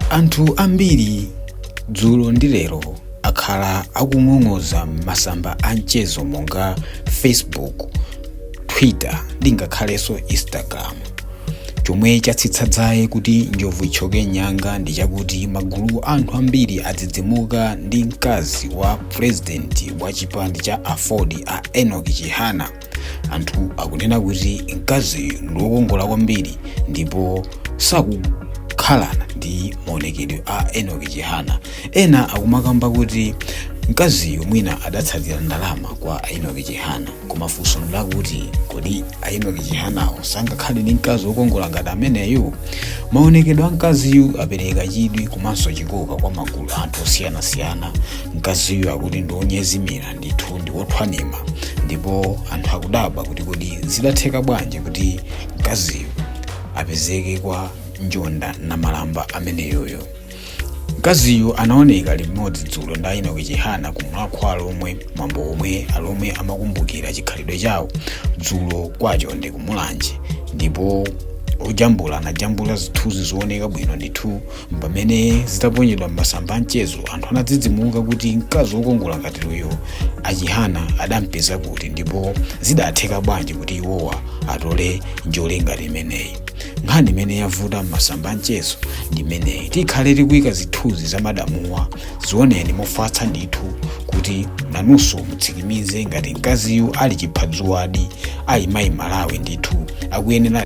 anthu ambiri dzulo ndi lero akhala akung'ong'oza m'masamba a mchezo monga facebook twitter ndi ngakhalenso instagram chomwe chatsitsa dzaye kuti njovu itchoke nyanga ndi chakuti magulu a anthu ambiri adzidzimuka ndi mkazi wa purezidenti wa chipani cha aford a enoch chihana anthu akunena kuti mkaziyu ndi wokongola kwambiri ndipo sakukhalana ndi maonekedwe a enoch chihana ena akumakamba kuti mkaziyu mwina adatsatira ndalama kwa a enoch chihana koma funso ndi lakuti kodi a enoch chihanawo sangakhale ndi mkazi wokongola ngati ameneyo maonekedwe a mkaziyu apereka chidwi komanso chikoka kwa magulu a anthu osiyanasiyana mkaziyu akuti ndi wonyezimira ndithu ndi wothwanima ndipo anthu akudabwa kuti kodi zidatheka bwanji kuti mkaziyu apezeke kwa njonda nkhalamba ameneyoyo mkaziyu anaoneka limodzi dzulo ndi a enoch chihana ku mulhako wa alhomwe mwambo omwe alomwe amakumbukira chikhalidwe chawo dzulo kwa chonde ku mulanje ndipo ojambula anajambula zithunzi zooneka bwino ndithu pamene zitaponyedwa m'masamba a mchezo anthu anadzidzimuka kuti mkazi wokongola ngati uyu a chihana adampeza kuti ndipo zidatheka bwanji kuti iwowa atole njole ngati imeneyi nkhani imene yavuta m'masamba a mchezo ndi imeneyi tikhale tikuyika zithunzi za madamwa zioneni mofatsa ndithu kuti nanunso mutsikimize ngati mkaziyu ali chiphadzuwadi amayi malawi ndithu akuyenera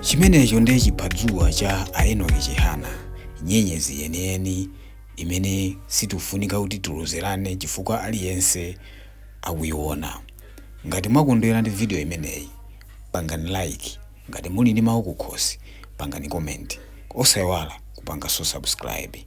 chimenecho ndiye chiphadzuwa cha a enoch chihana nyenyezi yeniyeni imene sikufunika kuti tilozerane chifukwa aliyense akuiona ngati mwakondwera ndi video imeneyi pangani like Ngati muli ndi mawu kukhosi pangani comment osaiwala kupanganso subscribe.